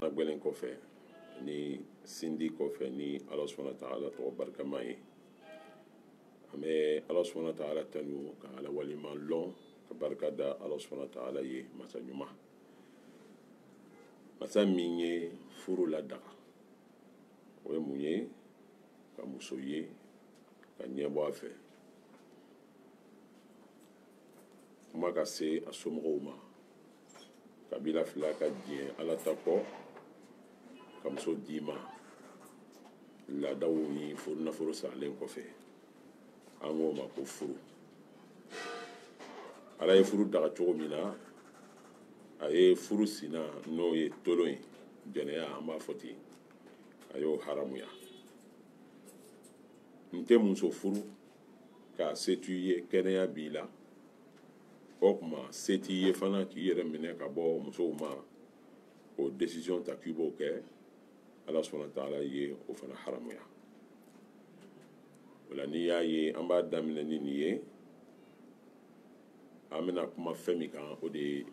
a gwɛlɛn kɔfɛ ni sindi kɔfɛ ni ala subhana wa taala tɔgɔ barikama ye an bɛ ala subhana wa taala tanu ka ala waleɲumanlɔn ka barika da ala subhana wa taala ye masa ɲuman masa min ye furu ladaga o ye mun ye ka muso ye ka ɲɛbɔ a fɛ kuma ka se a somɔgɔw ma kabila fila ka diɲɛ ala ta kɔ ka muso d'i ma laadaw ni furu nafolo saralen kɔfɛ an k'o ma ko furu ala ye furu daga cogo min na a ye furu sina n'o ye tolon ye jɛnɛya an b'a fɔ ten a y'o haramuya n tɛ muso furu k'a se t'i ye kɛnɛya b'i la o kuma se t'i ye fana k'i yɛrɛ minɛ ka bɔ musow ma o desiziyɔn ta k'i b'o kɛ ala subhana wa taala ye o fana haramuya o la n'i y'a ye an b'a daminɛ ni nin ye an bɛna kuma fɛn min kan o de ye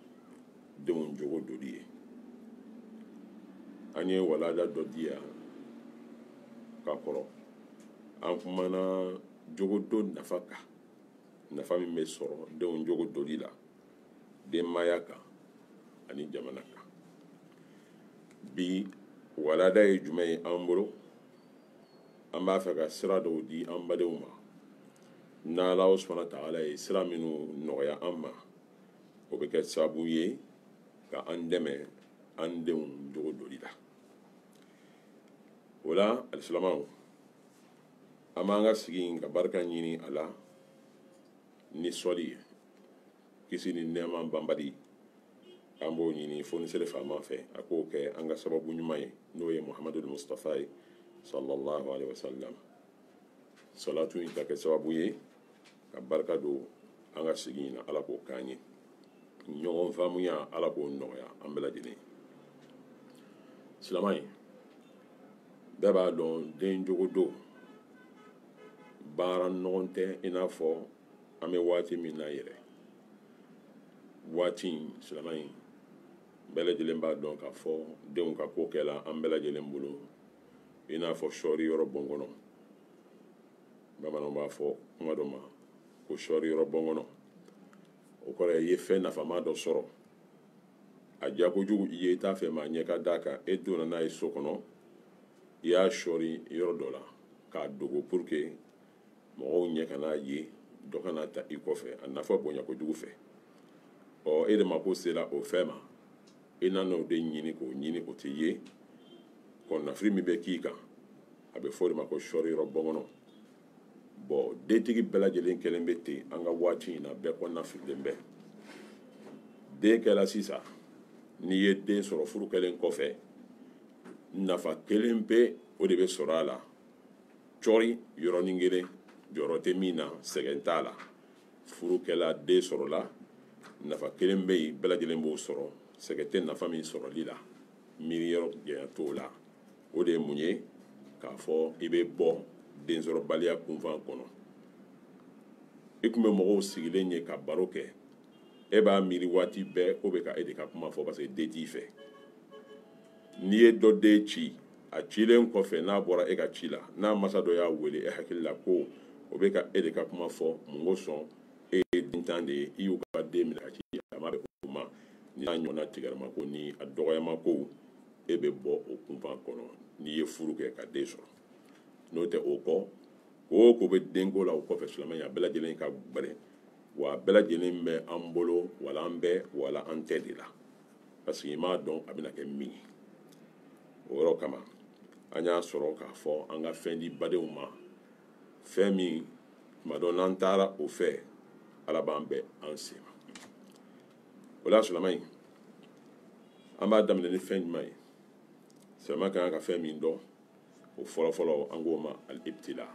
denw jogo doli ye an ye walanda dɔ di yan ka kɔrɔ an kumana jogo don nafa kan nafa min bɛ sɔrɔ denw jogo doli la denmaya kan ani jamana kan bi walanda ye jumɛn ye an bolo an b'a fɛ ka sira dɔw di an badenw ma n'ala subhana wa taala ye sira minnu nɔgɔya an ma o bɛ kɛ sababu ye ka an dɛmɛ an denw jogo doli la o la alisilamaw an b'an ka sigi in ka barika ɲini a la ni sɔli ye kisi ni nɛɛma banbali an b'o ɲini fonisere faama fɛ a k'o kɛ an ka sababu ɲuman ye n'o ye muhamadu mustafa ye sallallahu alaihi wasallam salatu in ka kɛ sababu ye ka barika don an ka sigi in na ala k'o k'an ye ɲɔgɔn faamuya ala k'o nɔgɔya an bɛɛ lajɛlen silaman ye bɛɛ b'a dɔn den jogo don baara nɔgɔn tɛ i n'a fɔ an bɛ waati min na yɛrɛ waati in silaman in bɛɛ lajɛlen b'a dɔn k'a fɔ denw ka ko kɛla an bɛɛ lajɛlen bolo i n'a fɔ sɔɔri yɔrɔ bon kɔnɔ bamananw b'a fɔ kuma dɔ ma ko sɔɔri yɔrɔ bɔnkɔnɔ o kɔrɔ i ye fɛn nafama dɔ sɔrɔ a diya kojugu i ye i t'a fɛ maa ɲɛ ka d'a kan e donna n'a ye so kɔnɔ i y'a sɔɔri yɔrɔ dɔ la k'a dogo pour que mɔgɔw ɲɛ kan'a ye dɔ kan'a ta i kɔfɛ a nafa bonya kojugu fɛ ɔ e de mako sera o fɛn ma i nana o de ɲini k'o ɲini o tɛ ye kɔnɔnafili min bɛ k'i kan a bɛ fɔ o de ma ko sɔɔri yɔrɔ bɔnkɔnɔ bon dentigi bɛɛ lajɛlen kɛlen bɛ ten an ka waati in na bɛɛ kɔnɔnafililen bɛ den kɛla sisan n'i ye den sɔrɔ furu kɛlen kɔfɛ nafa kelen pe o de bɛ sɔrɔ a la cɔri yɔrɔnin kelen jɔrɔ tɛ min na sɛgɛn t'a la furu kɛla den sɔrɔla nafa kelen bɛ yen bɛɛ lajɛlen b'o sɔrɔ sɛgɛn tɛ nafa min sɔrɔli la miiri yɔrɔ janya t'o la o de ye mun ye k'a fɔ i bɛ bɔ densɔrɔbaliya kunfan kɔnɔ i tun bɛ mɔgɔw sigilen ye ka baro kɛ e b'a miiri waati bɛɛ k'o bɛ ka e de ka kuma fɔ parce que den t'i fɛ n'i ye dɔ den ci a cilen kɔfɛ n'a bɔra e ka ci la n'a masa dɔ y'a wele e hakili la ko o bɛ ka e de ka kuma fɔ mun kosɔn e ye dentan de ye i y'u ka den minɛ ka ci a ma bɛn o ma ni y'a ɲɔgɔnna tigɛrɛma ko ni a dɔgɔyama ko e bɛ bɔ o kunfan kɔnɔ n'i ye furu kɛ ka den sɔrɔ n'o tɛ o kɔ ko o ko bɛ denko la o kɔfɛ silamɛya bɛɛ lajɛlen ka gbɛrɛ wa bɛɛ lajɛlen bɛ an bolo wala an bɛ wala an tɛ de la parce que i m'a dɔn a bɛna kɛ min ye o yɔrɔ kama an y'a sɔrɔ k'a fɔ an ka fɛn di badenw ma fɛn min tuma dɔ n'an taara o fɛ ala b'an bɛɛ an sen ma o la silamɛ in an b'a daminɛ ni fɛn jumɛn ye silamɛ ka kan ka fɛn min dɔn o fɔlɔfɔlɔ an k'o ma al-ibtila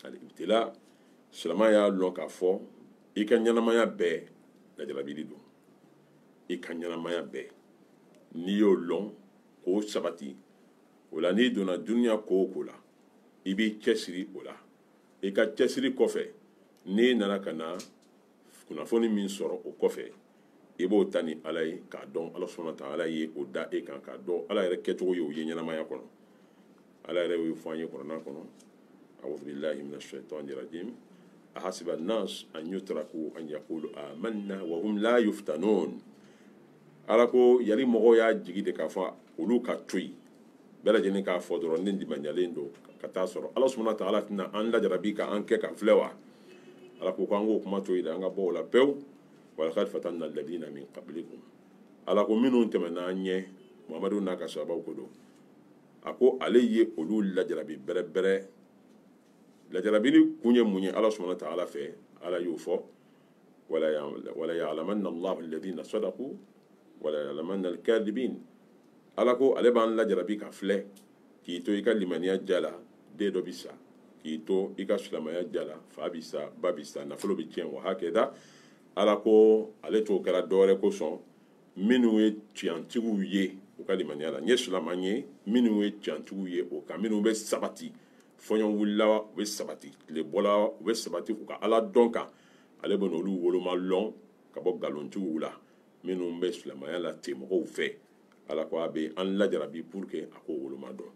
al-ibtila silamɛ y'a lɔn k'a fɔ i ka ɲɛnamaya bɛɛ lajarabili don i ka ɲɛnamaya bɛɛ n'i y'o lɔn k'o sabati o la n'i donna duniya ko o ko la i b'i cɛsiri o la i ka cɛsiri kɔfɛ n'i nana ka na kunnafoni min sɔrɔ o kɔfɛ i b'o ta ni ala ye k'a dɔn ala subhana wa taala ye o da e kan k'a dɔn ala yɛrɛ kɛcogo ye o ye ɲɛnamaya kɔnɔ ala yɛrɛ y'o fɔ an ye kuranɛ kɔnɔ a'udhu billahi mina shaitani rajim ahasiba nas an yutraku an yaqulu amanna wa hum la yuftanun ala ko yali mɔgɔw y'a jigi de k'a fɔ olu ka to yen bɛɛ lajɛlen k'a fɔ dɔrɔn ne limaniyalen don ka taa sɔrɔ ala subhanahu wa ta'ala tɛna an lajarabi ka an kɛ ka filɛ wa ala ko k'an k'o kuma to yen dɛ an ka bɔ o la pewu walakad fatanna alladina min qablikum ala ko minnu tɛmɛna an ɲɛ mamadu n'a ka sahabaw ko don a ko ale ye olu lajarabi bɛrɛbɛrɛ lajarabili kun ye mun ye ala subhanahu wa ta'ala fɛ ala y'o fɔ ala ko ale b'an lajarabi ka filɛ k'i to i ka limaniya ja la den dɔ bɛ sa k'i to i ka silamɛya ja la fa bɛ sa ba bɛ sa nafolo bɛ tiɲɛ wa hakɛda ala ko ale t'o kɛra dɔwɛrɛ kosɔn minnu ye tiɲɛtigiw ye u ka limaniya la n ye silaman ye minnu ye tiɲɛtigiw ye o kan minnu bɛ sabati fɔɲɔ wulila u bɛ sabati tile bɔla u bɛ sabati u ka ala dɔn kan ale bɛ n'olu woloma lɔn ka bɔ nkalontigiw la minnu bɛ silamɛya la ten mɔgɔw fɛ ala ko a bɛ an lajarabi pour que a k'o woloma dɔn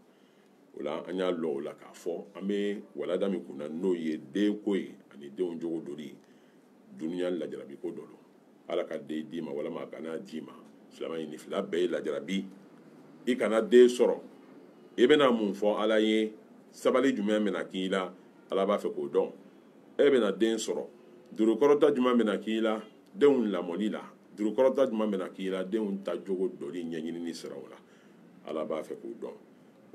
o la an y'a lɔn o la k'a fɔ an bɛ walanda min kunna n'o ye denko ye ani denw jogo doli duniya lajarabi ko dɔ don ala ka den d'i ma walama a kana d'i ma silamɛ nin fila bɛɛ ye lajarabi i kana den sɔrɔ i bɛna mun fɔ ala ye sabali jumɛn bɛna k'i la ala b'a fɛ k'o dɔn e bɛna den sɔrɔ jurukɔrɔta jumɛn bɛna k'i la denw lamɔli la jurukɔrɔta jumɛn bɛna k'i la denw ta jogo dɔli ɲɛɲinini siraw la ala b'a fɛ k'o dɔn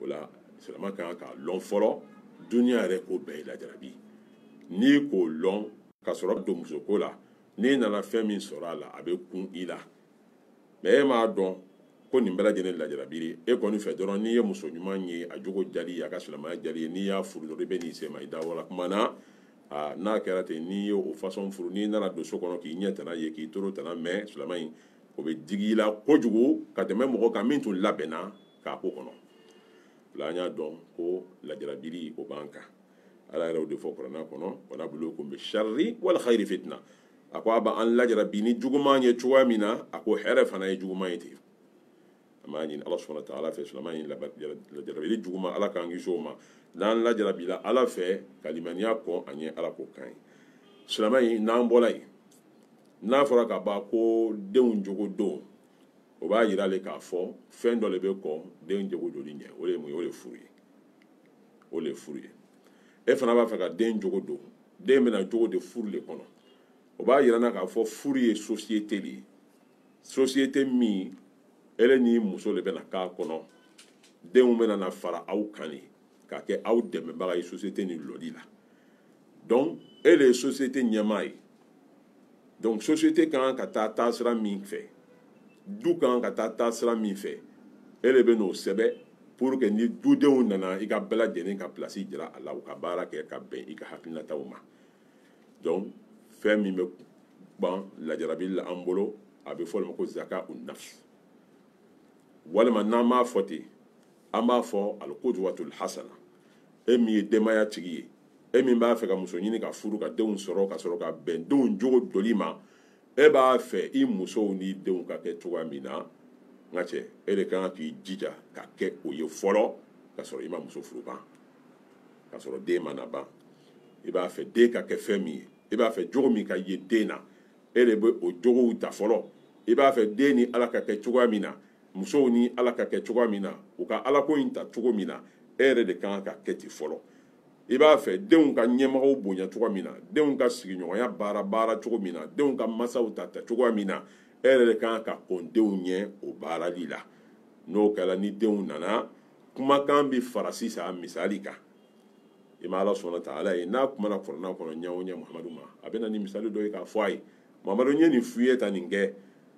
o la silamɛ ka kan k'a lɔn fɔlɔ duniya yɛrɛ ko bɛɛ ye lajarabi n'i k'o lɔn ka sɔrɔ don musoko la n'i nana fɛn min sɔrɔ a la a bɛ kun i la mais e m'a dɔn ko nin bɛɛ lajɛlen lajarabi e kɔni fɛ dɔrɔn n'i ye muso ɲuman ye a jogo jali a ka silamɛya jali ye n'i y'a furu dɔrɔn i bɛ n'i sɛmɛ i da wala kuma na n'a kɛra ten n'i ye o fasɔn furu n'i nana don so kɔnɔ k'i ɲɛ tana ye k'i tolo tana mɛn silamɛ in o bɛ digi i la kojugu ka tɛmɛ mɔgɔ kan min tun labɛnna k'a ko kɔnɔ o la an y'a dɔn ko lajarabili o b'an kan ala yɛrɛ o de fɔ kuranɛ kɔnɔ wa nablukum bi sharri wal khayri fitna a ko a bɛ an lajarabi ni juguman ye cogoya min na a ko hɛrɛ fana ye juguman ye ten an b'a ɲini ala subhanahu wa ta'ala fɛ silamɛ nin lajarabili juguman ala k'an kisi o ma n'an lajarabila ala fɛ ka limaniya kɔn a ɲɛ ala k'o k'an ye silamɛ nin n'an bɔla yen n'a fɔra ka ban ko denw jogo don o b'a yira le k'a fɔ fɛn dɔ de bɛ kɔn denw jogo doli ɲɛ o de ye mun ye o de ye furu ye o de ye furu ye e fana b'a fɛ ka den jogo don den bɛna jogo de furu de kɔnɔ o b'a yira na k'a fɔ furu ye sosiyete de ye sosiyete min ele n'i muso de bɛna k'a kɔnɔ denw bɛna na fara aw kan de ka kɛ aw dɛmɛbaga ye sosiyete ni lɔli la donc e de ye sosiyete ɲɛmaa ye donc société kan ka taa taasira min fɛ du kan ka taa taasira min fɛ e de bɛ n'o sɛbɛ pour que ni dudenw nana i ka bɛɛ lajɛlen ka place jira a la u ka baara kɛ ka bɛn i ka hakilinataw ma donc fɛn min bɛ ban lajarabi la an bolo a bɛ fɔ o de ma ko zaka u nafs walima n'an m'a fɔ ten an b'a fɔ al-qudwatul hasana e min ye denbaya tigi ye e min b'a fɛ ka muso ɲini ka furu ka denw sɔrɔ ka sɔrɔ ka bɛn denw jogo doli ma e b'a fɛ i musow n'i denw ka kɛ cogoya min na n ka cɛ e de kan k'i jija ka kɛ o ye fɔlɔ ka sɔrɔ i ma muso furu ban ka sɔrɔ den ma na ban i b'a fɛ den ka kɛ fɛn min ye i b'a fɛ jogo min ka ye den na e de bɛ o jogow ta fɔlɔ i b'a fɛ den ni ala ka kɛ cogoya min na musow ni ala ka kɛ cogoya min na u ka alako in ta cogo min na e yɛrɛ de ka kan ka kɛ ten fɔlɔ i b'a fɛ denw ka ɲɛmɔgɔw bonya cogoya min na denw ka sigiɲɔgɔnya baara baara cogo min na denw ka masaw ta ta cogoya min na e yɛrɛ de ka kan ka kɔn denw ɲɛ o baarali la n'o kɛra ni denw nana kumakan bɛ fara sisan misali kan i ma ala subhana wa taala ye n'a kumana kuranna kɔnɔ ɲɛ o ɲɛ muhamadu ma a bɛ na ni misali dɔ ye k'a fɔ a ye mamadu n ye nin f'i ye taa nin kɛ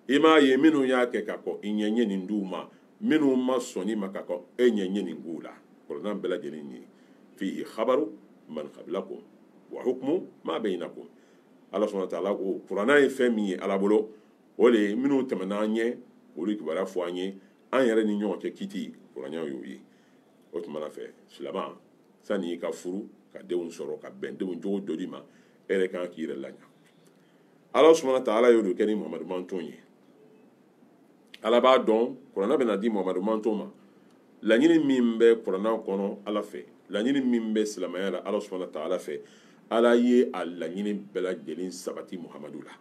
i m'a ye minnu y'a kɛ ka kɔn i ɲɛ n ye nin d'u ma minnu ma sɔn nin ma ka kɔn e ɲɛ n ye nin k'u la kuranna bɛɛ lajɛlen ye nin ye fihi khabaru man qablakum wa hukmu ma bainakum ala subhana wa taala ko kuranna ye fɛn min ye ala bolo o de ye minnu tɛmɛna an ɲɛ olu kibaruya fɔ an ye an yɛrɛ ni ɲɔgɔn cɛ kiti kuranna y'o ye o tuma na fɛ silama sani i ka furu ka denw sɔrɔ ka bɛn denw jogo doli ma e yɛrɛ kan k'i yɛrɛ laɲa ala subhana wa taala y'o de kɛ ni muhamadu manton ye ala b'a dɔn kuranna bɛna di muhamadu manton ma laɲini min bɛ kuranna kɔnɔ ala fɛ laɲini min bɛ silamɛya la ala subhana wa taala fɛ ala ye a laɲini bɛɛ lajɛlen sabati muhamadu la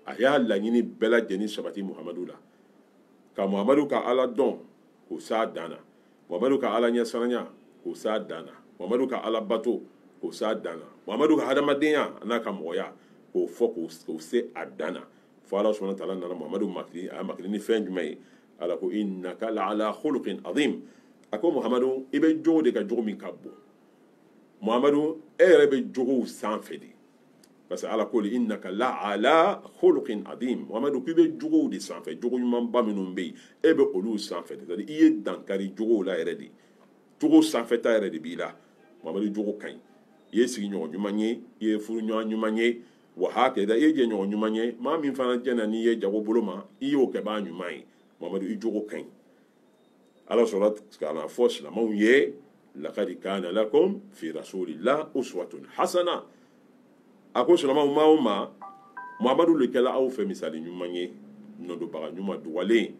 a y'a laɲini bɛɛ lajɛlen sabati muhamadu la ka muhamadu ka ala dɔn k'o s'a dan na muhamadu ka ala ɲɛsiranya k'o s'a dan na muhamadu ka ala bato k'o s'a dan na muhamadu ka hadamadenya n'a ka mɔgɔya k'o fɔ k'o se a dan na fo ala subhana wa taala nana muhamadu makili a makili ni fɛn jumɛn ye ala ko innaka la ala khuluqin azim a ko muhamadu i bɛ jogo de kan jogo min ka bon muhamadu e yɛrɛ bɛ jogow sanfɛ de parce que ala ko li innaka la ala khuluqin adim mamadu k'i bɛ jogow de sanfɛ jogo ɲumanba minnu bɛ yen e bɛ olu sanfɛ c'est à dire i ye dan kari jogow la yɛrɛ de jogo sanfɛta yɛrɛ de b'i la mamadu jogo ka ɲi i ye sigiɲɔgɔn ɲuman ye i ye furuɲɔgɔn ɲuman ye wa hakada i ye jɛɲɔgɔn ɲuman ye maa min fana jɛna n'i ye jago bolo ma i y'o kɛbaa ɲuman ye mamadu i jogo ka ɲi ala sɔrɔ ka na fɔ silamɛw ye laqad kana lakum fi rasulillah uswatun hasana a ko silamɛw maa o maa muhamadu le kɛla aw fɛ misali ɲuman ye nɔdobaga ɲuman dugalen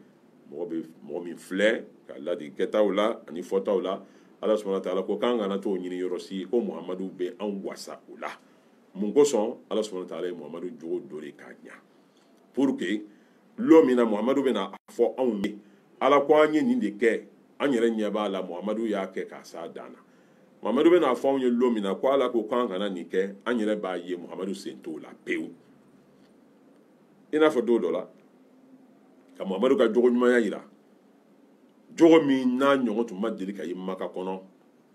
mɔgɔ bɛ mɔgɔ min filɛ ka ladi kɛtaw la ani fɔtaw la ala subhana wa taala ko k'an kana t'o ɲini yɔrɔ si ko muhamadu bɛ anw wasa o la mun kosɔn ala subhana wa taala ye muhamadu jogo dɔ de k'a ɲa pour que lɔ min na muhamadu bɛna a fɔ anw ye ala ko an ye nin de kɛ an yɛrɛ ɲɛ b'a la muhamadu y'a kɛ k'a s'a dan na muhamadu bɛna a fɔ anw ye lɔ min na ko ala ko k'an kana nin kɛ an yɛrɛ b'a ye muhamadu sen t'o la pewu i n'a fɔ don dɔ la ka muhamadu ka jogo ɲumanya jira jogo min n'a ɲɔgɔn tun ma deli ka ye maka kɔnɔ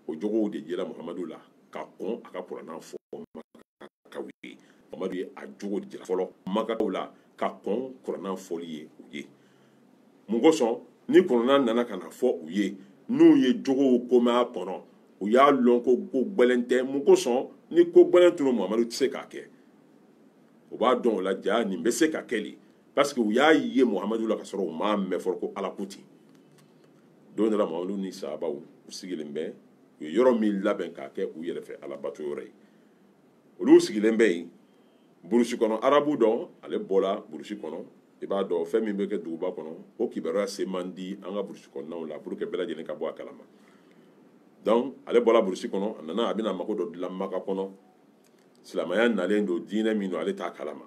o jogow de yela muhamadu la ka kɔn a ka kuranɛ fɔ makaw ye muhamadu ye a jogo de jira fɔlɔ makaw la ka kɔn kuranɛ fɔli ye u ye mun kosɔn ni kuranɛ nana ka na fɔ u ye n'u ye jogow ko mɛn a kɔnɔ u y'a lɔn ko ko gbɛlɛn tɛ mun kosɔn ni ko gbɛlɛn tun muhamadu tɛ se k'a kɛ u b'a dɔn o la jaa nin bɛ se ka kɛ le parce que u y'a ye muhamadu la ka sɔrɔ u m'a mɛn fɔlɔ ko ala ko ten don dɔ la muhamadu ni sahabaw u sigilen bɛ u ye yɔrɔ min labɛn k'a kɛ u yɛrɛ fɛ alabato yɔrɔ ye olu sigilen bɛ yen burusi kɔnɔ arabu dɔ ale bɔra burusi kɔnɔ i b'a dɔn fɛn min bɛ kɛ duguba kɔnɔ o kibaruya se man di an ka burusi kɔnɔnaw la pour que bɛɛ lajɛlen ka bɔ a kalama donc ale bɔra burusi kɔnɔ a nana a bɛna mago dɔ dilan maka kɔnɔ silamaya nalen don diinɛ min don ale t'a kalama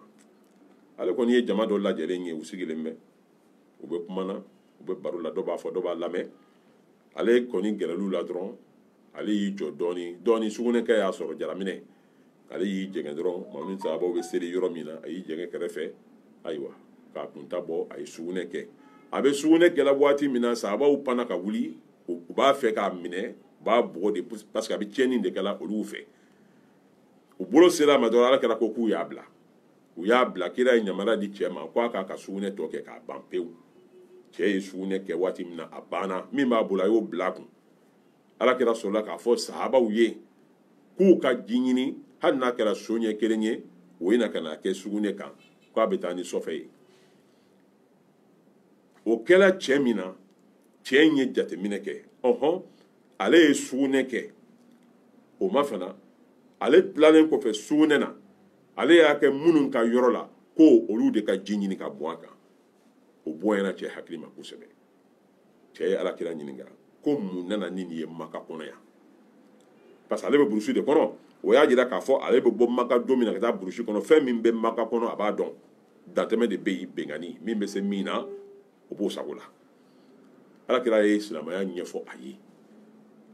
ale kɔni ye jama dɔ lajɛlen ye u sigilen bɛ u bɛ kuma na u bɛ baro la dɔ b'a fɔ dɔ b'a lamɛn ale kɔni gɛrɛl'u la dɔrɔn ale y'i jɔ dɔɔni dɔɔni sugunɛkɛ y'a sɔrɔ jalaminɛ ale y'i jɛngɛ dɔrɔn muhamadu ni sahabaw bɛ seli yɔrɔ min na a y'i jɛngɛ kɛrɛfɛ ayiwa k'a kunta bɔ a ye sugunɛ kɛ a bɛ sugunɛ kɛla waati min na sahabaw panna ka wuli u b'a fɛ k'a minɛ u b'a bugɔ de parce que a bɛ tiɲɛni de kɛla olu fɛ u bolo sera a ma dɔrɔn ala kira ko k'u y'a bila u y'a bila kira ye yamaruya di cɛ ma k'a k'a ka sugunɛ tɔ kɛ k'a ban pewu cɛ ye sugunɛ kɛ waati min na a banna min b'a bolo a y'o bila a kun ala kira sɔrɔla k'a fɔ sahabaw ye k'u ka ji ɲini hali n'a kɛra so ɲɛ kelen ye u ye na ka n'a kɛ sugunɛ kan k'a bɛ taa ni sɔfɛ ye o kɛra cɛ min na cɛ in ye jateminɛ kɛ ɔhɔn ale ye sugunɛ kɛ o ma fana ale tilalen kɔfɛ sugunɛ na ale y'a kɛ minnu ka yɔrɔ la ko olu de ka ji ɲini k'a bɔn a kan o bonyana cɛ hakili ma kosɛbɛ cɛ ye alakira ɲininka ko mun nana ni nin ye maka kɔnɔ yan parce que ale bɛ burusi de kɔnɔ o y'a jira k'a fɔ ale bɛ bɔ maka don min na ka taa burusi kɔnɔ fɛn min bɛ maka kɔnɔ a b'a dɔn dantɛmɛ de bɛ yen bɛnkanni min bɛ se min na o b'o sago la alakira ye silamɛya ɲɛfɔ a ye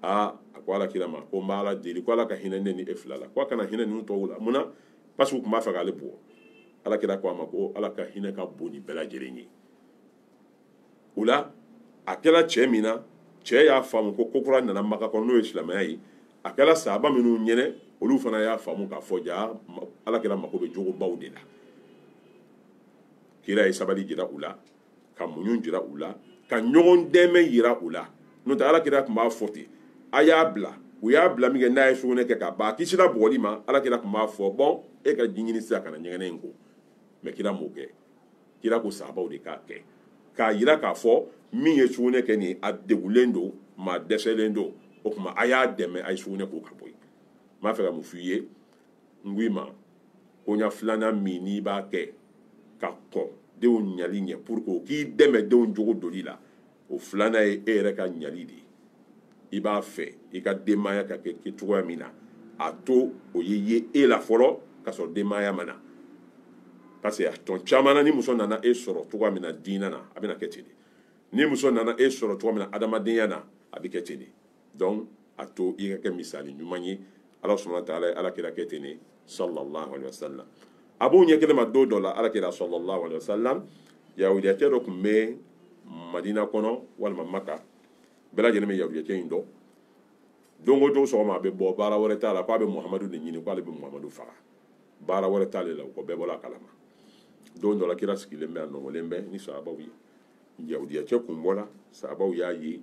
aa a ko alakira ma ko n b'a ala deli ko ala ka hinɛ ne ni e fila la ko a kana hinɛ ninnu tɔw la mun na parce que u tun b'a fɛ k'ale bugɔ alakira ko a ma ko ala ka hinɛ ka bon ni bɛɛ lajɛlen ye o la a kɛra cɛ min na cɛ y'a faamu ko ko kura nana maka kɔnɔ n'o ye silamɛya ye a kɛra sahaba minnu ɲɛnɛ olu fana y'a faamu k'a fɔ jaa ala kira mako bɛ jogobaw de la kira ye sabali jira u la ka muɲu jira u la ka ɲɔgɔn dɛmɛ yira u la n'o tɛ ala kira tun b'a fɔ ten a y'a bila u y'a bila min kɛ n'a ye sugunɛ kɛ k'a ban a kisira bugɔli ma ala kira tun b'a fɔ bon e ka ji ɲini sisan ka na ɲɛgɛnɛ in ko mais kira m'o kɛ kira ko sahabaw de k'a kɛ k'a yira k'a fɔ min ye sugunɛ kɛ nin a degulen don maa dɛsɛlen don o tuma a y'a dɛmɛ a ye sugunɛ ko ka bɔ yen n b'a fɛ ka mun f'i ye n ko i ma koɲa filanan min n'i b'a kɛ ka kɔn denw ɲali ɲɛ pour que o k'i dɛmɛ denw jogo doli la o filanan ye e yɛrɛ ka ɲali de ye i b'a fɛ i ka denbaya ka kɛ kɛ cogoya min na a to o ye ye e la fɔlɔ ka sɔrɔ denbaya ma na parce que a tɔn caman na ni muso nana e sɔrɔ cogoya min na diinɛ na a bɛna kɛ ten de ni muso nana e sɔrɔ cogoya min na adamadenya na a bɛ kɛ ten de donc a to i ka kɛ misali ɲuman ye ala subahana wa taala ye ala kira kɛ ten de sallallahu alaihi wasallam a b'o ɲɛ kelen ma don dɔ la ala kira sallallahu alaihi wasallam yahudiyacɛ dɔ tun bɛ madina kɔnɔ walima maka bɛɛ lajɛlen bɛ yahudiyacɛ in dɔn don o don sɔgɔma a bɛ bɔ baara wɛrɛ t'a la k'a bɛ muhamadu de ɲini k'ale bɛ muhamadu faga baara wɛrɛ t'ale la o ko bɛɛ bɔra a kalama don dɔ la kira sigilen bɛ a nɔgɔlen bɛ ni sahabaw ye yahudiyacɛ kun bɔra sahabaw y'a ye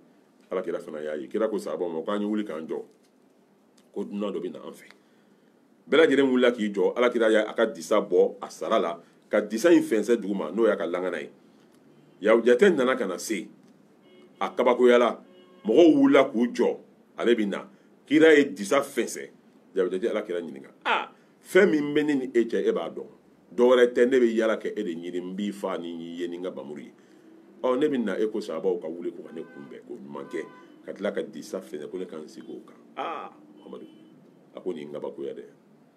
ala kira fana y'a ye kira ko sahabaw ma k'an ye wuli k'an jɔ ko dunan dɔ bɛ na an fɛ bɛɛ lajɛlen wulila k'i jɔ ala kira y'a ka disa bɔ a sara la ka disa in fɛnsɛ dugu ma n'o y'a ka langana ye yahudiyacɛ nana ka na se a kabakoyala mɔgɔw wulila k'u jɔ ale bɛ na kira ye disa fɛnsɛ yahudiyacɛ ye ala kira ɲininka aa fɛn min bɛ ne ni e cɛ e b'a dɔn dɔwɛrɛ tɛ ne bɛ yala kɛ e de ɲini n b'i faa ni n y'i ye ni n ka bamuru ye ɔ ne bɛ na e ko sahabaw ka wuli ko ka ne kunbɛn k'o ɲuman kɛ ka tila ka disa fɛnsɛ ko ne ka n sigi o kan aa muhamadu a ko nin kabakoya dɛ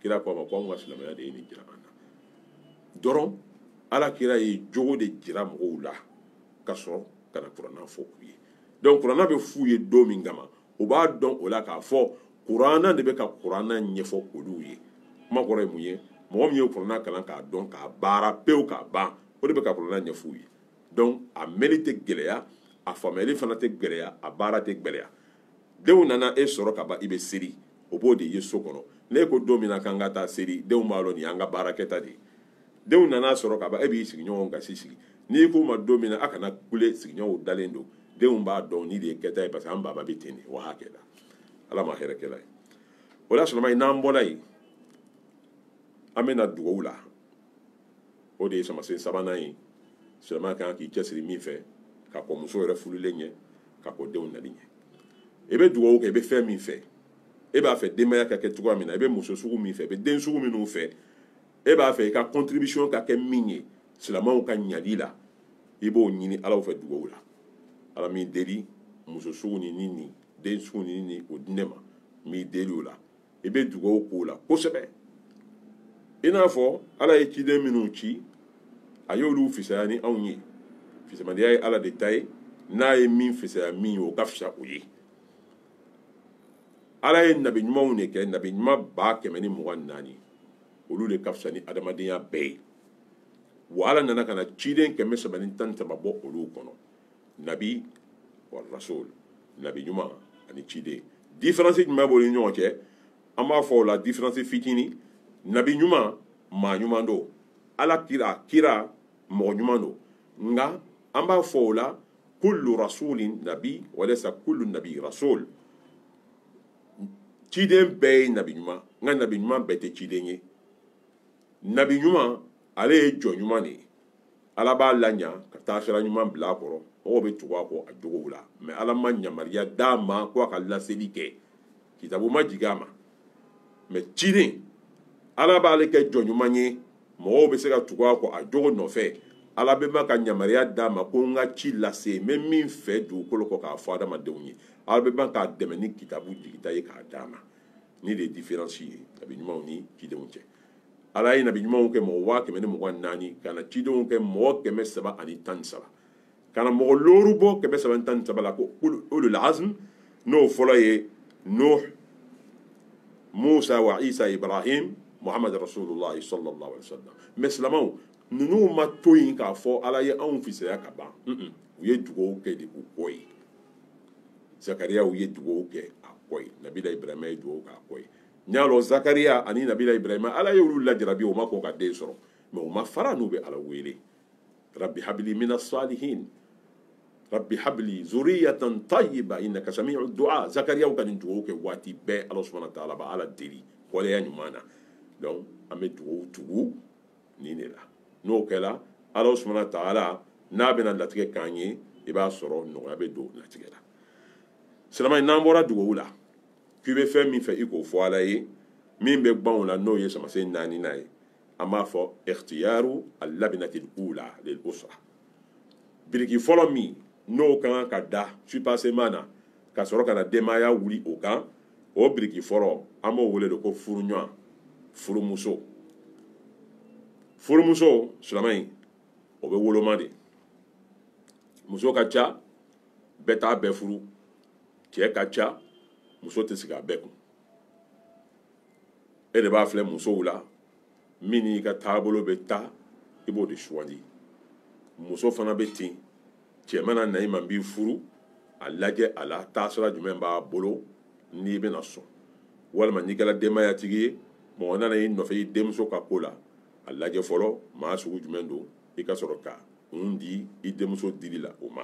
kira ko a ma ko anw ka silamɛya de ye nin jira an na dɔrɔn ala kira ye jogo de jira mɔgɔw la ka sɔrɔ ka na kuranna fɔ u ye donc kuranna bɛ f'u ye don min kama u b'a dɔn o la k'a fɔ kuranna de bɛ ka kuranna ɲɛfɔ olu ye kuma kɔrɔ ye mun ye mɔgɔ min ye kuranna kalan k'a dɔn k'a baara pewu k'a ban o de bɛ ka kuranna ɲɛfɔ u ye donc a mɛnni tɛ gɛlɛya a faamuyali fana tɛ gɛlɛya a baara tɛ gɛlɛya denw nana e sɔrɔ ka ban i bɛ seli u b'o de ye so kɔnɔ n'e ko don min na k'an ka taa seli denw b'a dɔn nin y'an ka baarakɛta de ye denw nana sɔrɔ ka ban e b'i sigiɲɔgɔnw gasi sigi n'i k'u ma don min na a kana kule sigiɲɔgɔnw dalen don denw b'a dɔn nin de ye kɛta ye parce que an baba bɛ ten de wa hakɛ la ala ma hɛrɛ kɛla ye o la sɔrɔma ye n'an bɔla yen an bɛ na dugawu la o de ye samasen sabanan ye silamɛ kan k'i cɛsiri min fɛ ka kɔn muso yɛrɛ furuli ɲɛ ka kɔn denw nali ɲɛ i bɛ dugawu kɛ i bɛ fɛn min fɛ e b'a fɛ denbaya ka kɛ cogoya min na i bɛ muso sugu min fɛ i bɛ den sugu minnu fɛ e b'a fɛ i ka contribution ka kɛ min ye silamɛw ka ɲali la i b'o ɲini ala fɛ dugawu la ala n b'i deli muso sugu nin ni nin den sugu nin nin o di ne ma n b'i deli o la i bɛ dugawu k'o la kosɛbɛ i n'a fɔ ala ye ciden minnu ci a y'olu fisaya ni anw ye fisamadiya ye ala de ta ye n'a ye min fisaya min ye o ka fisa o ye ala ye nabi ɲumanw de kɛ nabi ɲuman ba kɛmɛ ni mugan ni naani olu de ka fisa ni adamadenya bɛɛ ye wa ala nana ka na ciden kɛmɛ saba ni tan ni saba bɔ olu kɔnɔ nabi wa rasul nabi ɲuman ani ciden différence jumɛn b'olu ni ɲɔgɔn cɛ an b'a fɔ o la différence fitinin nabi ɲuman maa ɲuman don ala kira mɔgɔ ɲuman don nka an b'a fɔ o la kullu rasulin nabi wa laysa kullu nabi rasul ciden bɛɛ ye nabi ɲuman nka nabi ɲuman bɛɛ tɛ ciden ye nabi ɲuman ale ye jɔn ɲuman de ye ala b'a laɲa ka taa sira ɲuman bila a kɔrɔ mɔgɔw bɛ tugu a kɔ a jogow la mais ala ma yamaruya d'a ma ko a ka laseli kɛ kitabu ma jigin a ma mais ciden ala b'ale kɛ jɔn ɲuman ye mɔgɔw bɛ se ka tugu a kɔ a jogo nɔfɛ ala bɛ ban ka yamaruya d'a ma ko n ka ci lase n bɛ min fɛ dugukolo kɔ k'a fɔ adamadenw ye ala bɛ ban k'a dɛmɛ ni kitabu jigita ye k'a d'a ma nin de ye différence ye nabi ɲumanw ni cidenw cɛ ala ye nabi ɲumanw kɛ mɔgɔ waa kɛmɛ ni mugan naani ka na cidenw kɛ mɔgɔ kɛmɛ saba ani tan ni saba ka na mɔgɔ looru bɔ kɛmɛ saba ni tan ni saba la ko ulul azm n'o fɔlɔ ye nuh musa wa isa ibrahim muhammad rasulullah sallallahu alaihi wasallam mais silamɛw ninnu ma to yen k'a fɔ ala ye anw fisaya ka ban u ye dugawu kɛ de u kɔ ye zakariya u ye dugawu kɛ a kɔ ye nabila ibrahima ye dugawu k'a kɔ ye an y'a lɔn zakariya ani nabila ibrahima ala ye olu lajarabi u ma kɔn ka den sɔrɔ mais u ma fara n'u bɛ ala wele rabbi habili mina salihin rabbi habili zuriyatan tayyiba innaka sami'u du'a zakariya ka nin dugawu kɛ waati bɛɛ ala subhanahu wa ta'ala b'a ala deli waleya ɲuman na donc an bɛ dugawu tugu nin de la n'o kɛra ala subhanahu wa ta'ala n'a bɛna latigɛ k'an ye i b'a sɔrɔ nɔgɔya bɛ don latigɛ la silama n'an bɔra dugawu la k'i bɛ fɛn min fɛ i k'o fɔ ala ye min bɛ gban o la n'o ye samasen naaninan ye an b'a fɔ ikhtiyaru al-labinati al-ula lil-usra biriki fɔlɔ min n'o ka kan ka da soubassement na ka sɔrɔ ka na denbaya wuli o kan o biriki fɔlɔ an b'o wele de ko furuɲɔgɔn furumuso furumuso silamɛ in o bɛ woloma de muso ka ca bɛɛ t'a bɛɛ furu cɛ ka ca muso tɛ sigi a bɛɛ kun e de b'a filɛ musow la min n'i ka taabolo bɛ taa i b'o de sugandi muso fana bɛ ten cɛ mana na i ma n b'i furu a lajɛ a la taasira jumɛn b'a bolo n'i bɛna sɔn walima n'i kɛra denbayatigi ye mɔgɔ nana i nɔfɛ i denmuso ka ko la a lajɛ fɔlɔ maa sugu jumɛn don i ka sɔrɔ ka kun di i denmuso dili la o ma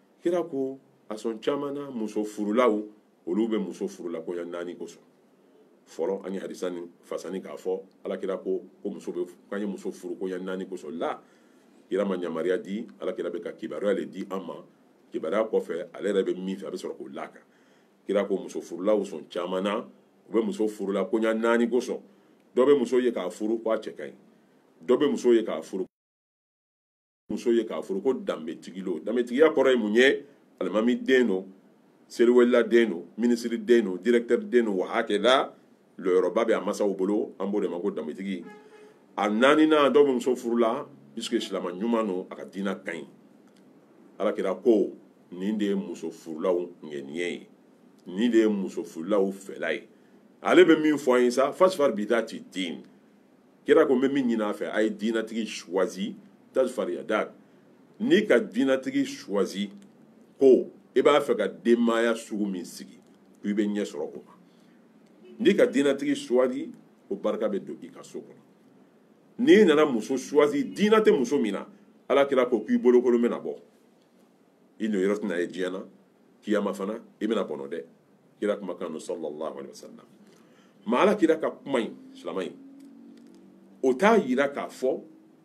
kira ko a sɔn caman na muso furulaw olu bɛ muso furula koɲa naani kosɔn fɔlɔ an ye hadisa nin fasari k'a fɔ alakira ko ko muso bɛ k'an ye muso furu koɲa naani kosɔn la kira ma yamaruya di alakira bɛ ka kibaruya de di an ma kibaruya kɔfɛ ale yɛrɛ bɛ min fɛ a bɛ sɔrɔ k'o la a kan kira ko muso furulaw sɔn caman na u bɛ muso furula koɲa naani kosɔn dɔ bɛ muso ye k'a furu ko a cɛ ka ɲi dɔ bɛ muso ye k'a furu muso ye k'a furu ko danbetigi lo danbetigiya kɔrɔ ye mun ye alimami den don seliwelila den don minisiri den don directeur den don wa hakaza lɔyɔrɔba bɛ a masaw bolo an b'o de ma ko danbetigi a naaninan dɔw bɛ muso furula puisque silama ɲuman don a ka diina ka ɲi alakira ko nin de ye muso furulaw ŋaniya ye nin de ye muso furulaw fɛla ye ale bɛ min fɔ an ye sa fazfar bidati din kira ko n bɛ min ɲini a fɛ a ye diinatigi choisi tazfar yadak n'i ka diinatigi choisi ko i b'a fɛ ka denbaya sugu min sigi ko i bɛ ɲɛ sɔrɔ o ma n'i ka diinatigi choisi ko barika bɛ don i ka so kɔnɔ n'i nana muso choisi diina tɛ muso min na ala kira ko k'i bolokolon bɛna bɔ i nɔyɔrɔ tɛna ye diɲɛ na kiyama fana i bɛna bɔnɔ dɛ kira kumakan don sallallahu alaihi wasallam maa ala kira ka kuma in silama in o t'a yira k'a fɔ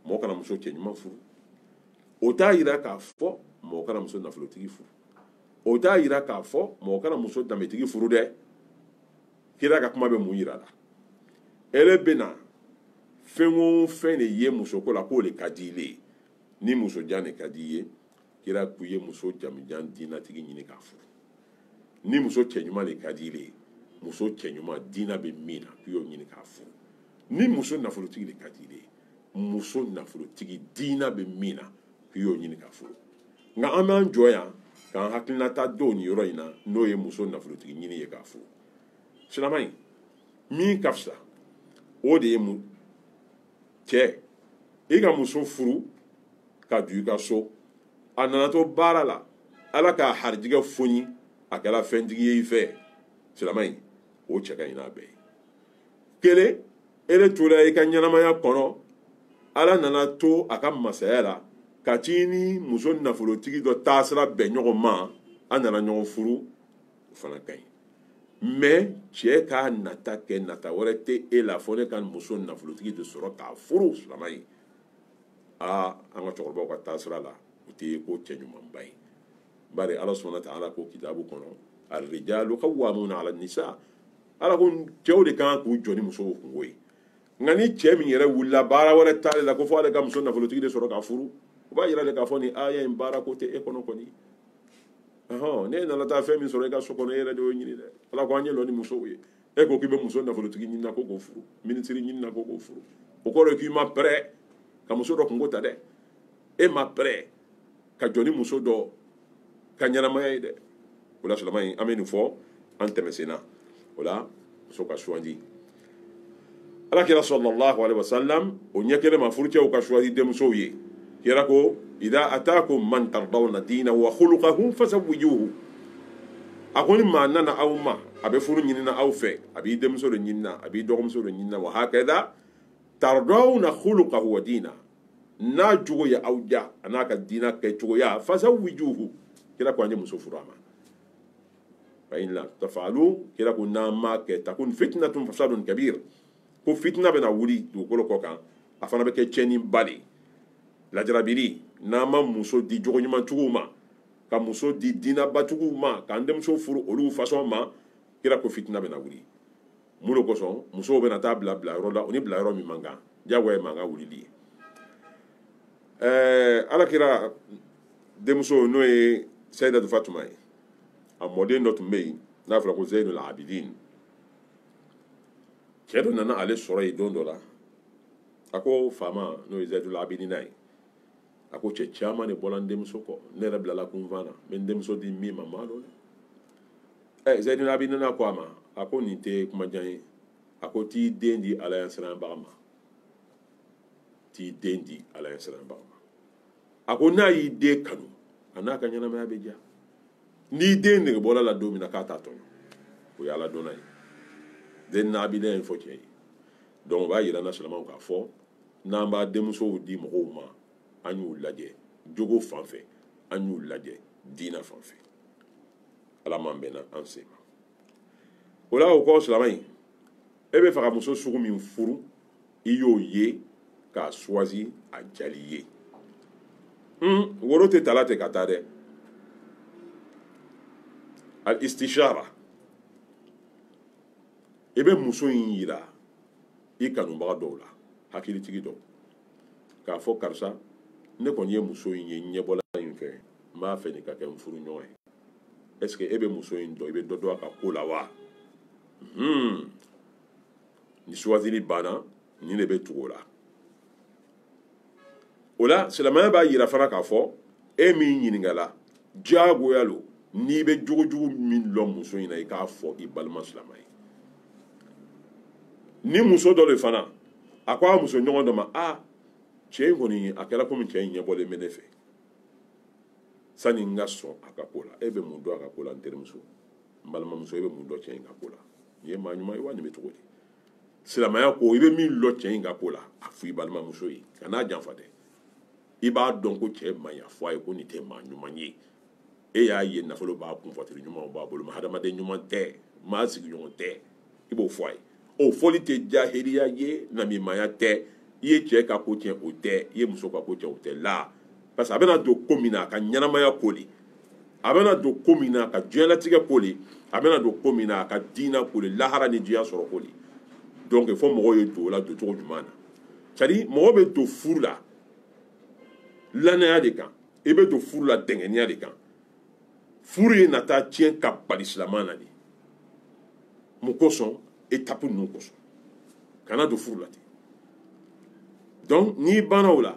mɔgɔ kana muso cɛɲuman furu o t'a yira k'a fɔ mɔgɔ kana muso nafolotigi furu o t'a yira k'a fɔ mɔgɔ kana muso danbetigi furu dɛ kira ka kuma bɛ mun yira la ele bɛna fɛn o fɛn de ye musoko la k'o de ka di ile ye ni musojan de ka di i ye kira ko i ye muso jamujan diinatigi ɲini k'a furu ni muso cɛɲuman de ka di ile ye muso cɛɲuman diina bɛ min na k'i y'o ɲini k'a furu ni muso nafolotigi de ka di ile ye muso nafolotigi diina bɛ min na k'i y'o ɲini k'a furu nka an b'an jɔ yan k'an hakilinata don nin yɔrɔ in na n'o ye muso nafolotigi ɲini ye k'a furu silama in min ka fisa o de ye mun cɛ i ka muso furu ka don i ka so a nana to baara la ala k'a harijigɛ foni a kɛra fɛntigi ye i fɛ silama in o cɛ ka ɲi n'a bɛɛ ye kelen ele tora i ka ɲɛnamaya kɔnɔ ala nana to a ka masaya la ka t'i ni muso nafolotigi dɔ taasira bɛn ɲɔgɔn ma a nana ɲɔgɔn furu o fana ka ɲi mɛ cɛ k'a nata kɛ nata wɛrɛ tɛ e la fɔ ne ka muso nafolotigi de sɔrɔ k'a furu silama ye aa an ka cɛkɔrɔbaw ka taasira la o tɛ ko cɛ ɲumanba ye bari ala subhanahu wa ta'ala ko kitabu kɔnɔ arrijalu qawwamuna ala nisa ala ko cɛw de kan k'u jɔ ni musow kunko ye nka ni cɛ min yɛrɛ wulila baara wɛrɛ t'ale la ko fɔ ale ka muso nafolotigi de sɔrɔ k'a furu o b'a yira de k'a fɔ nin aya in baara ko tɛ e kɔnɔ kɔni ɔhɔn n'e nana taa fɛn min sɔrɔ e ka so kɔnɔ e yɛrɛ de y'o ɲini dɛ ala ko an ye lɔ ni musow ye e ko k'i bɛ muso nafolotigi ɲini na ko k'o furu minisiri ɲini na ko k'o furu o kɔrɔ ye k'i ma pɛrɛ ka muso dɔ kunko ta dɛ e ma pɛrɛ ka jɔ ni muso dɔ ka ɲɛnamaya ye dɛ o la silama in an bɛ nin fɔ an tɛmɛsenna o la muso ka suwandi ala kira sallallahu alaihi wasallam o ɲɛ kelen ma furucɛw ka suwandi denmusow ye kira ko idha atakum man tardawna dinahu wa khuluqahu fasawwijuhu a ko ni maa nana aw ma a bɛ furu ɲinina aw fɛ a b'i denmuso de ɲinina a b'i dɔgɔmuso de ɲinina wa hakada tardawna khuluqahu wa dina n'a jogo ye aw diya a n'a ka diina kɛcogoya fasawwijuhu kira ko an ye muso furu a ma fa in lam taf'alu kira ko n'an m'a kɛ takun fitnatun fasadun kabir ko fitina bɛna wuli dugukolo kɔ kan a fana bɛ kɛ tiɲɛniba de ye lajarabili n'an ma muso di jogo ɲumantigiw ma ka muso di diinabatigiw ma k'an denmuso furu olu fasɔn ma kira ko fitina bɛna wuli mun de kosɔn musow bɛna taa bila bila yɔrɔ la o ni bila yɔrɔ min man kan jagoya ye mankan wulili ye ɛɛ ala kira denmuso n'o ye sayidatu fatuma ye a mɔden dɔ tun bɛ yen n'a fɔra ko zeyinul abidin cɛ dɔ nana ale sɔrɔ yen don dɔ la a ko faama n'o ye zeyinul abidina ye a ko cɛ caman de bɔra n denmuso kɔ ne yɛrɛ bilala kunfan na n bɛ n denmuso di min ma n m'a dɔn dɛ ɛ zeyinul abidina ko a ma a ko nin tɛ kuma jan ye a ko t'i den di ala ɲɛsiranbaga ma t'i den di ala ɲɛsiranbaga ma a ko n'a y'i den kanu a n'a ka ɲɛnamaya bɛ diya n'i den nege bɔr'a la don min na k'a t'a tɔɲɔ o ye ala dɔnna ye zeyinul abidina y'a fɔ cɛ ye donc o b'a yira an na silamaw k'a fɔ n'an b'an denmusow di mɔgɔw ma an y'u lajɛ jogo fan fɛ an y'u lajɛ diina fan fɛ ala m'an bɛnna an sen ma o la o kɔ silama in e b'a fɛ ka muso sugu min furu i y'o ye k'a choisi a jali ye woro tɛ tala tɛ ka taa dɛ al istishara i bɛ muso in yira i kanubaga dɔw la hakilitigi dɔw k'a fɔ karisa ne kɔni ye muso in ye ɲɛbɔla in fɛ n b'a fɛ nin ka kɛ n furuɲɔgɔn ye est ce que e bɛ muso in dɔn i bɛ dɔ dɔn a ka ko la wa hmm. ni suwazili banna nin de bɛ tugu o la o la silamɛya b'a yira fana k'a fɔ e min ɲininkala diyagoya lo n'i bɛ jogojugu min lɔn muso in na i k'a fɔ i balima silamɛ ye ni muso dɔ de fana a ko a muso ɲɔgɔn dɔ ma a cɛ in kɔni a kɛra komi cɛ in ɲɛbɔlen bɛ ne fɛ sani n ka sɔn a ka ko la e bɛ mun dɔn a ka ko la n terimuso n balimamuso e bɛ mun dɔn cɛ in ka ko la nin ye maa ɲuman ye wa nin bɛ cogo di silamɛya ko i bɛ min lɔn cɛ in ka ko la a fɔ i balimamuso ye kan'a janfa dɛ i b'a dɔn ko cɛ man ɲi a fɔ a ye ko nin tɛ maa ɲuman ye e y'a ye nafolo b'a kun voiture ɲumanw b'a bolo hadamaden ɲuman tɛ maa sigiɲɔgɔn tɛ i b'o fɔ a ye o fɔli tɛ jahiliya ye namimaya tɛ i ye cɛ ka ko tiɲɛ o tɛ i ye muso ka ko tiɲɛ o tɛ la parce que a bɛna don ko min na a ka ɲɛnamaya ko de a bɛna don ko min na a ka diɲɛlatigɛ ko de a bɛna don ko min na a ka diina ko de lahara ni diɲɛ sɔrɔ ko de donc fo mɔgɔw ye don o la doncogo ɲuman na c'est à dire mɔgɔ bɛ don furu la lannaya de kan i bɛ don furu la dɛngɛniya de kan furu ye na taa tiɲɛ ka bali silama na de mun kosɔn étape ninnu kosɔn kana don furu la ten donc n'i banna o la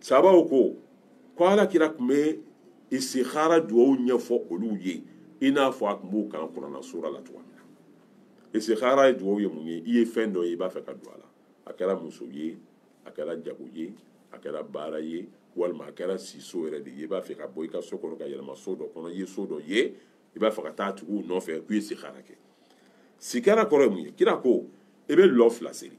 sabaw ko ko ala kira tun bɛ istikhara dugawu ɲɛfɔ olu ye i n'a fɔ a tun b'u kalan kurana sura la cogoya min na istikhara dugawu ye mun ye i ye fɛn dɔ ye i b'a fɛ ka don a la a kɛra muso ye a kɛra jago ye a kɛra baara ye walima a kɛra siso yɛrɛ de ye i b'a fɛ ka bɔ i ka so kɔnɔ ka yɛlɛma so dɔ kɔnɔ i ye so dɔ ye i b'a fɛ ka taa tigiw nɔfɛ k'i ye istikhara kɛ istikhara kɔrɔ ye mun ye kira ko i bɛ lɔ fila seri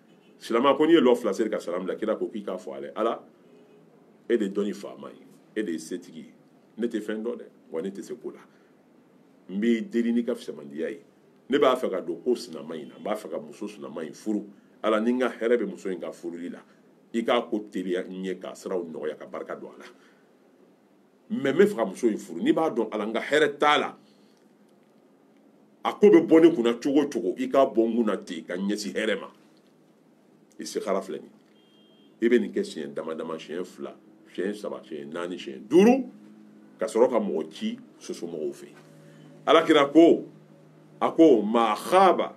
silama ko n'i ye lɔ fila seri ka salam bila kira ko k'i k'a fɔ ale ala e de dɔnni faama ye e de setigi ye ne tɛ fɛn dɔn dɛ wa ne tɛ se ko la n b'i deli n'i ka fisamandiya ye ne b'a fɛ ka don ko sinama in na n b'a fɛ ka muso sinama in furu ala ni n ka hɛrɛ bɛ muso in ka furuli la i k'a ko teliya n ye k'a siraw nɔgɔya ka barika don a la mɛ n b'a fɛ ka muso in furu n'i b'a dɔn ala n ka hɛrɛ t'a la a ko bɛ bɔ ne kunna cogo o cogo i k'a bɔ n kunna ten ka ɲɛsin hɛrɛ ma istikhara filɛ nin i bɛ nin kɛ siɲɛ dama dama siɲɛ fila siɲɛ saba siɲɛ naani siɲɛ duuru ka sɔrɔ ka mɔgɔ ci muso somɔgɔw fɛ ala kira ko a ko ma khaba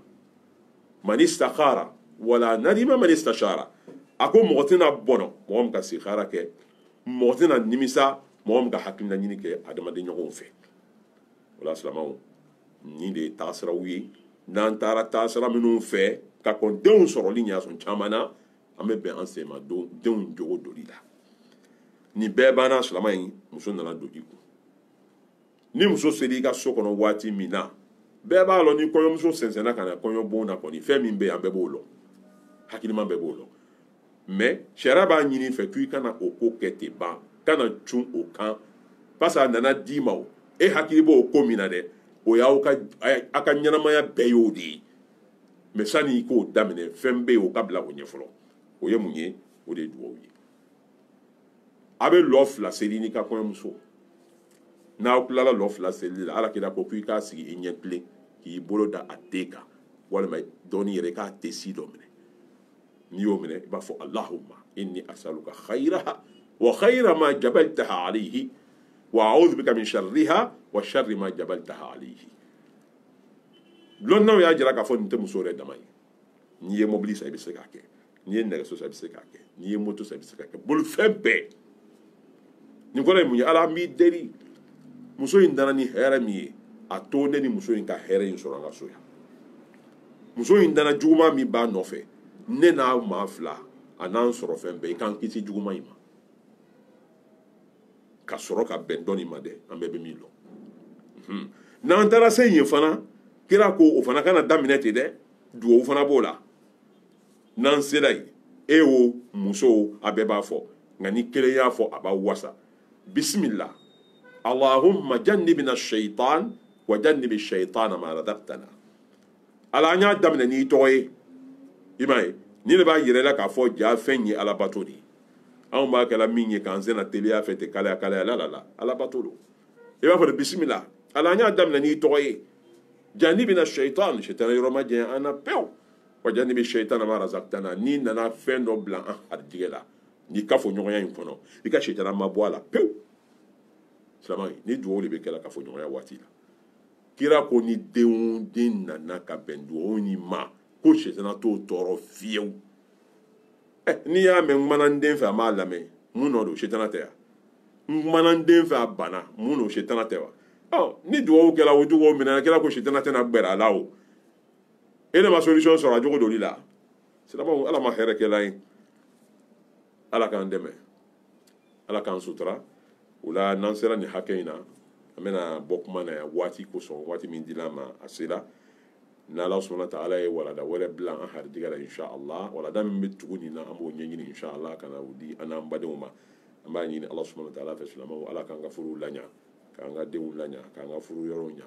man istakhara wala nadima man istashara a ko mɔgɔ tɛna bɔnɔ mɔgɔ min ka istikhara kɛ mɔgɔ tɛna nimisa mɔgɔ min ka hakilina ɲini kɛ adamaden ɲɔgɔnw fɛ o la silamaw nin de ye taasiraw ye n'an taara taasira minnu fɛ ka kɔn denw sɔrɔli ɲa sɔn caman na an bɛ bɛn an senma denw jogo doli la nin bɛɛ banna silama in muso nana don i kun ni muso sera i ka so kɔnɔ waati min na bɛɛ b'a lɔn ni kɔɲɔmuso sɛnsɛnna ka na kɔɲɔbon na kɔni fɛn min bɛ yen an bɛɛ b'o lɔn hakilima bɛɛ b'o lɔn mɛ sariya b'a ɲini i fɛ k'i kana o ko kɛ ten ban kana cun o kan parce que a nana d'i ma o e hakili b'o ko min na dɛ o y'aw ka ɲɛnamaya bɛɛ y'o de ye mɛ sani i k'o daminɛ fɛn bɛ yen o ka bila o ɲɛ fɔlɔ o ye mun ye o de ye dugawu ye a bɛ lɔ fila seli n'i ka kɔɲɔmuso n'aw tilala lɔ fila selili la ala kira ko k'i k'a sigi i ɲɛ tilen k'i bolo da a ten kan walima dɔɔni yɛrɛ k'a tensi dɔ minɛ n'i y'o minɛ i b'a fɔ allahumma inni asaluka khayraha wa khayra ma jabaltaha alayhi wa a'udhu bika min sharriha wa sharri ma jabaltaha alayhi lɔnnaw y'a jira k'a fɔ nin tɛ muso yɛrɛ dama ye n'i ye mobili san i bɛ se k'a kɛ n'i ye nɛgɛso san i bɛ se k'a kɛ n'i ye moto san i bɛ se k'a kɛ bolifɛn bɛɛ nin kɔrɔ ye mun ye ala an b'i deli muso in nana ni hɛrɛ min ye a to ne ni muso in ka hɛrɛ in sɔrɔ an ka so yan muso in nana juguman min b'a nɔfɛ ne n'a maa fila an'an sɔrɔfɛn bɛɛ i k'an kisi juguman in ma ka sɔrɔ ka bɛn dɔn in ma dɛ an bɛɛ bɛ min dɔn hmm. n'an taara se yen fana kira ko o fana kana daminɛ ten dɛ dugawu fana b'o la n'an sera yen cɛ o muso o a bɛɛ b'a fɔ nka ni kelen y'a fɔ a b'a wasa bisimila allahumma jannibina shaitan wa jannibi shaitana ma razaqtana ala an y'a daminɛ n'i tɔgɔ ye i m'a ye nin de b'a yirala k'a fɔ ja fɛn ye alabato de ye anw b'a kɛla min ye k'an sena teliya fɛ ten kalaya kalaya la la la alabato don i b'a fɔ de bisimila ala an y'a daminɛ n'i tɔgɔ ye jannibina shaitan shaitana yɔrɔ majanya an na pewu wa jannibi shaitana ma razaqtana n'i nana fɛn dɔ bila an harijigɛ la nin kafoɲɔgɔnya in kɔnɔ i ka shaitana mabɔ a la pewu silamɛ nin dugawu de bɛ kɛ la kafoɲɔgɔnya waati la kira ko ni den nana ka bɛn dugawu nin ma ko sɛtana t'o tɔɔrɔ fiyewu eh, n'i y'a mɛn n kumana n den fɛ a m'a lamɛn mun nɔ don sɛtana tɛ wa n kumana n den fɛ a banna mun don sɛtana tɛ wa ɔ ni dugawu kɛra o dugawu minɛ kira ko sɛtana tɛna gbɛrɛ a la o e ne ma solution sɔrɔ a jogo doli la silamɛw ala ma hɛrɛ kɛla ye ala k'an dɛmɛ ala k'an sutura o la n'an sera nin hakɛ in na an bɛna bɔ kuma na yan waati kosɔn waati min dila an ma a sera n'ala subhanahu wa ta'ala ye walada wɛrɛ bila an harijigɛ la inshallah walada min bɛ tugu nin na an b'o ɲɛɲini inshallah ka na o di an n'an badenw ma an b'a ɲini ala subhanahu wa ta'ala fɛ silamɛw ala k'an ka furuw laɲa k'an ka denw laɲa k'an ka furu yɔrɔw ɲa